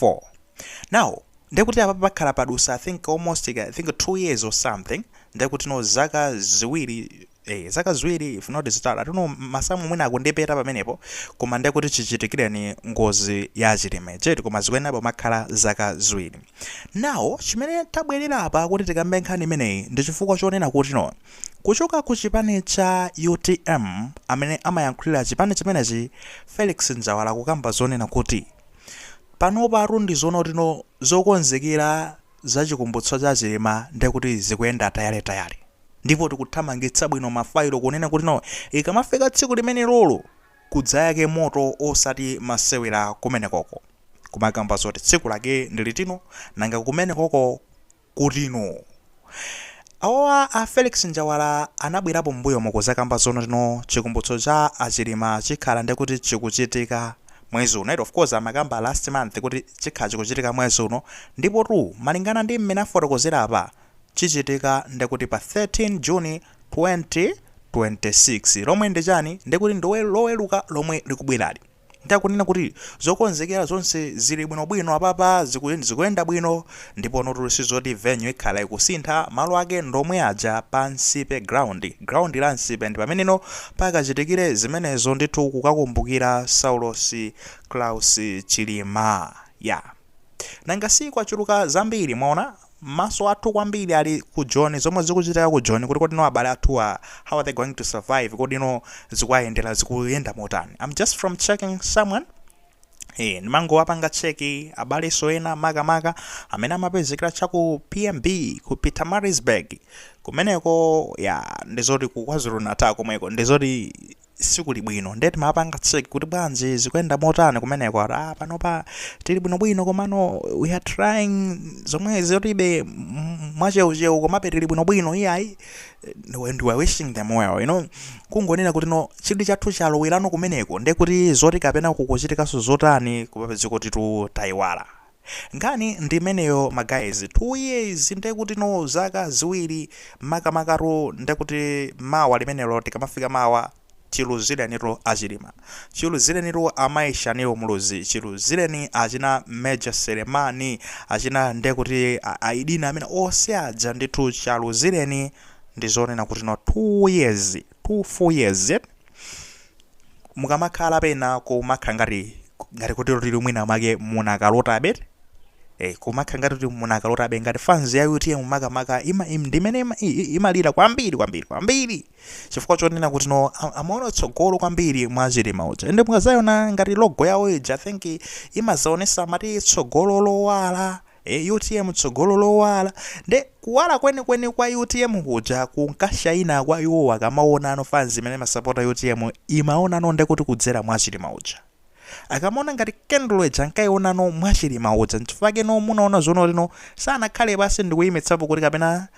4 now nde kuti apapa pakhala padusa i think almost i think 2 years or something nde kuti no zaka ziwiri eh zaka ziwiri if not zitatu i don't know masamu mwina akundipeta pamenepo koma nde kuti chichitikireni ngozi ya chilima ija eti koma zikuyenera kumakhala zaka ziwiri now chimene tabwerera apa kuti tikambe nkhani imeneyi ndi chifukwa chonena kuti no kuchoka ku chipani cha utm amene amayankhulira chipani chimenechi felix njawala kukamba zonena kuti Panopatu ndi zonena kuti no zokonzekera za Chikumbutso cha Chilima ndiye kuti zikuyenda tayaletayale ndipo tikuthamangitsa bwino mafailo kunena kuti no ikamafika tsiku limenelolo kudzayake moto osati masewera kumenekoko. Kumakamba zoti tsiku lake ndi liti no, nanga kumenekoko? kuti no awawa a Felix Njawala anabwerapo m'mbuyomo kuzakamba zonena kuti no chikumbutso cha a Chilima chikhala ndekuti chikuchitika mwezi uno eti of course amakamba last month kuti chikhala chikuchitika mwezi uno ndipotu malingana ndi mmene afotokozera apa chichitika ndekuti pa 13 June 2026 lomwe ndi chani ndekuti ndi loweruka lomwe likubwerali. Ndiye akunena kuti zokonzekera zonse zili bwinobwino apapa, zikuyenda bwino ndiponotu sizoti venue ikhala ikusintha, malo ake ndomwe aja pa Nsipe Ground, ground la Nsipe ndipameneno pakachitikire zimenezo ndithu kukakumbukira Saulos Klaus Chilima. Yaa. Nanga si kwachuluka zambiri, mwaona? Maso athu kwambiri ali ku Joni, zomwe zikuchitika ku Joni kuti kodi no abale athuwa how are they going to survive, kodi no zikuwayendera zikuyenda motani. I'm just from checking someone ee ndimangowapanga check abaleso ena makamaka amene amapezekera cha ku PMB ku Pietermaritzburg kumeneko ya ndizoti ku KwaZulu Natal komweko ndizoti sikuli bwino ndiye timapanga check kuti bwanji zikuyenda motani kumeneko ati ah panopa tili bwinobwino komano we are trying zomwe zotibe mwacheucheu komabe tili bwinobwino iyayi and we are wishing them well you know kungonena kuti no chidwi chathu chalowelano kumeneko ndiye kuti zoti kapena kukuchitikanso zotani kumapezeka kuti tu tayiwala Nkhani ndi imeneyo ma guys, 2 years ndekuti no zaka ziwiri makamakatu ndekuti mawa limenelo tikamafika mawa chiluzilenitu a Chilima, chiluzilenitu amayi Shanil Muluzi, chiluzileni achina Major Selemani, achina ndekuti a Aidin amene onse aja ndithu chaluzileni ndi zonena kuti no 2 years, 2 full years eti. mukamakhala pena kumakhala ngati ngati kuti tili mwina make munakalota abe eh kumakhala ngati kuti munakalota abe ngati fans ya UTM makamaka ima im- ndimene ima- i- i- imalira kwambiri kwambiri kwambiri chifukwa chonena kuti no a- amaona tsogolo kwambiri mwa chilima uja ende mukazayona ngati logo yawo ija i think imazaonesa mati tsogolo lowala Eee utm tsogolo lowala nde kuwala kwenikweni kwa utm kuja kunkashaina kwa iwowo akamaona no fans imene imasapota utm imaona no nde kuti kudzera mwa chilima uja akamaona ngati kendulo ija ankaiona no mwa chilima uja nchifukwa chake no munaona zonena kuti no sanakhale pansi ndikuimitsapo kuti kapena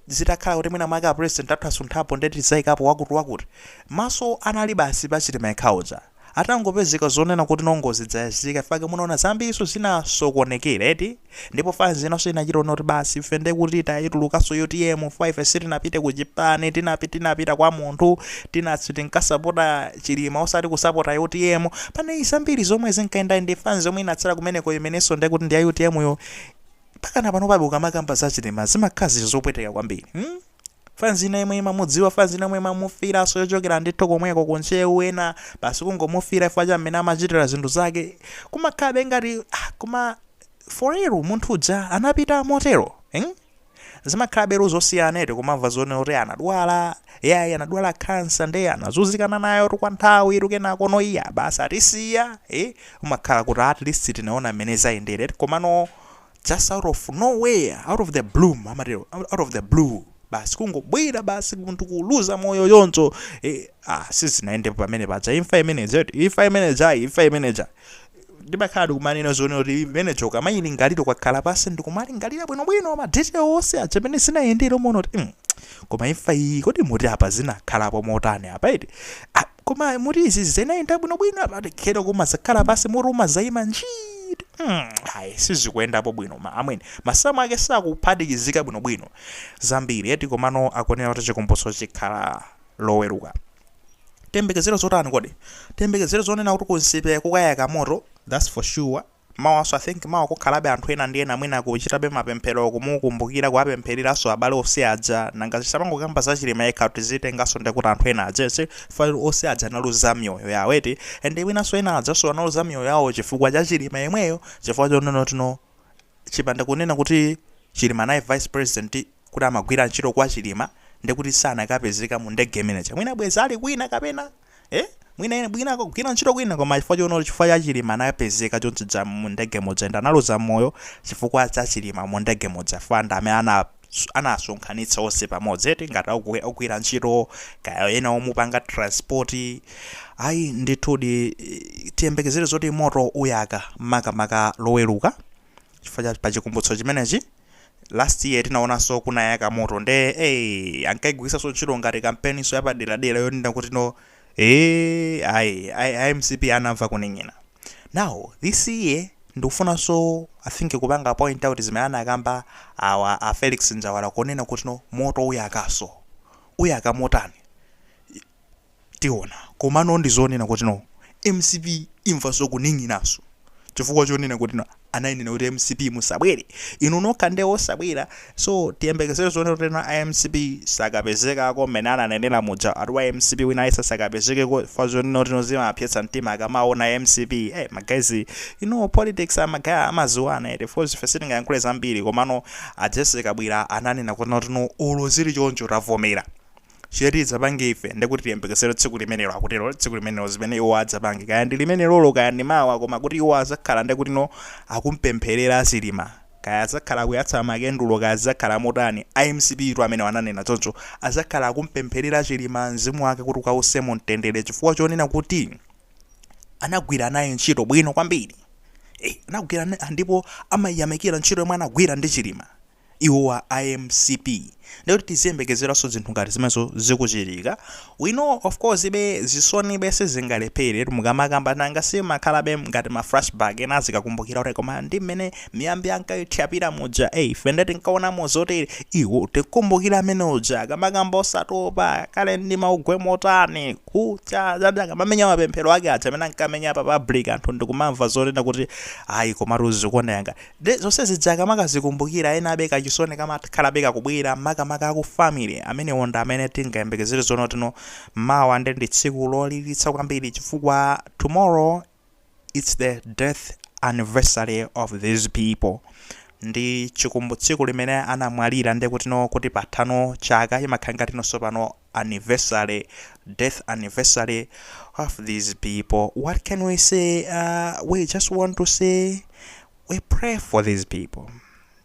zitakhala kuti mwina mwake a president atasunthapo nde tizaikapo wakuti wakuti maso anali basi pa chilima yekha uja atangopezeka zonena kuti no ngozi dzayazika nchifake munaona zambirinso zinasokonekera eti ndipo fans inanso inachita ona kuti basi ife nde kuti taitulukanso utm chifukwa ife sitinapite ku chipani tinapi tinapita kwa munthu tinatso tinkasapota chilima osati kusapota utm panali zambiri zomwe zinkayenda ndi fans yomwe inatsala kumeneko imenenso nde kuti ndi ya utm yo pakana panopabe ukamakamba za chilima zimakhala zinthu zopweteka kwambiri hmm? fans ina yemwe imamudziwa fans ina yomwe imamufiranso yochokera ndithu komweko ku ntcheu ena basi kungomufira chifukwa cha mmene amachitira zinthu zake kumakhabe ngati ah, koma for real munthu uja anapita motero eh? zimakhalabe zosiyana eti kumamva zonena kuti anadwala yayi anadwala khansa nde anazunzikana nayo kwa nthawi eti kenako no iya basi atisiya eh? umakhala kuti at least tinaona mmene zayendera eti komano just out of nowhere out of the bloom amatero out out of the blue basi kungobwera basi munthu kuluza moyo yonso eh, ah, sizinayendepo pamene paja imfa imeneja eti, imfa imeneja ayi, imfa imeneja ndimakhala ndikumanena zonena kuti imeneja ukamayilingalira ukakhala pasi ndikumalingalira bwinobwino ma detail onse aja a mmene zinayendera umaona kuti mm, koma imfa iyi kodi muti apa zinakhalapo motani apa eti Ah, Koma muti izi zinayenda bwinobwino apa tikero kumazakhala pasi mutu umazayima njii kuti mm, ayi sizikuyendapo bwino ma amwene masamu ake sakuphatikizika bwinobwino zambiri eti komano akunena kuti chikumbutso chikhala loweruka tiyembekezere zotani kodi tiyembekezere zonena kuti ku Nsipe kukayaka moto that's for sure Mawaso I think mawa kukhalabe anthu ena ndi ena mwina kuchitabe mapemphero kumukumbukira kuwapemphereranso abale ose aja nanga tisamangokamba za chilima yekha tizitenganso ndekuti anthu ena aja onse chifukwa ose aja analuza myoyo yawo eti and mwinanso ena ajanso analuza myoyo yawo chifukwa cha chilima yemweyo chifukwa chonena kuti no chipanda kunena kuti chilima anali vice president kuti amagwira ntchito kwa chilima ndekuti sanakapezeka mu ndege imene ija mwina bwezi ali kwina kapena eh mwina ine bwina akagwira ntchito kwina koma chifukwa chono chifukwa cha chilima anapezeka chonchija mu ndege modzi nde analuza moyo chifukwa cha chilima mu ndege modzi fanda amene ana anasonkhanitsa onse pamodzi eti ngati akugwi- akugwira ntchito kaya ena omupanga transport ayi ndithudi eh, tiyembekezere zoti moto uyaka makamaka loweruka chifukwa pachikumbutso chimenechi last year tinaonanso kunayaka moto nde eh ankaigwiritsanso ntchito ngati kampeninso yapaderadera yonena kuti no eh ayi ayi a mcp anamva kunong'ona now this year ndikufunanso i think kupanga point out zimene anakamba awa a felix njawala kunena kuti no moto uyakanso uyaka motani Tiona. Komano ndi zonena kuti no. Mcp imvanso kunong'onanso chifukwa chonena kuti no anainena kuti mcp musabwere inu nokha nde osabwera so tiyembekezere zonena kuti no a mcp sakapezekako mmene ananenera muja ati wa mcp wina aliyense asakapezekeko chifukwa chonena kuti no zimawapsetsa mtima akamaona mcp eh ma guys inu politics a ma guy amadziwana eti coz ife sitingayankhule zambiri komano a Jessie Kabwila ananena kunena kuti no olo zili choncho tavomera Chimene tidzapange ife, ndi kuti tiyembekezere tsiku limenelo, akutero, tsiku limenelo, zimene iwo adzapange. Kaya ndi limenelolo, kaya ndi mawa, koma kuti iwo adzakhala ndi kutino akumpempherera Chilima. Kaya adzakhala akuyatsa makendulo, kaya zidzakhala motani, a mcp tu amenewo ananena choncho, adzakhala akumpempherera Chilima, mzimu wake kuti ukause mu mtendere chifukwa chonena kuti anagwira naye ntchito bwino kwambiri. Eh, anagwira, ndipo amayamikira ntchito yomwe anagwira ndi Chilima. iwowa a mcp ndekuti tiziyembekezeranso zinthu ngati zimenezo zikuchitika we know of course be zisoni be sizingalephere eti mukamakamba nanga sizimakhalabe ngati ma flashback ena azikakumbukira kuti koma ndi mmene miyambi ankayithyapira muja eh ife ndeti tikaona mozotere iwo tikumbukira amene uja akamakamba osatopa kale ndi mawu kwaye motani kucha zati akamamenya mapemphero ake aja amene ankamenya pa public anthu ndikumamva zonena kuti ayi komatu zikuoneka ngati Nde zonse zija akamakazikumbukira enabe kachisoni kamakhalabe kakubwera makamaka aku family amenewo ndi amene tingayembekezere zonotino mawa nde ndi tsiku lolilitsa kwambiri chifukwa tomorrow it's the death anniversary of these people ndi chikumbu tsiku limene anamwalira ndekutino kuti pathano chaka imakhala ngati no nsopano anniversary, death anniversary of these people. What can we say? Uh, we just want to say we pray for these people.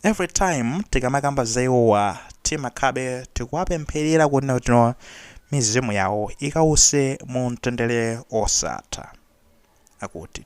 Every time tikamakamba za iwowa timakhabe tikuwapempherera kunena kuti no mizimu yawo ikause mu mtendere osatha akuti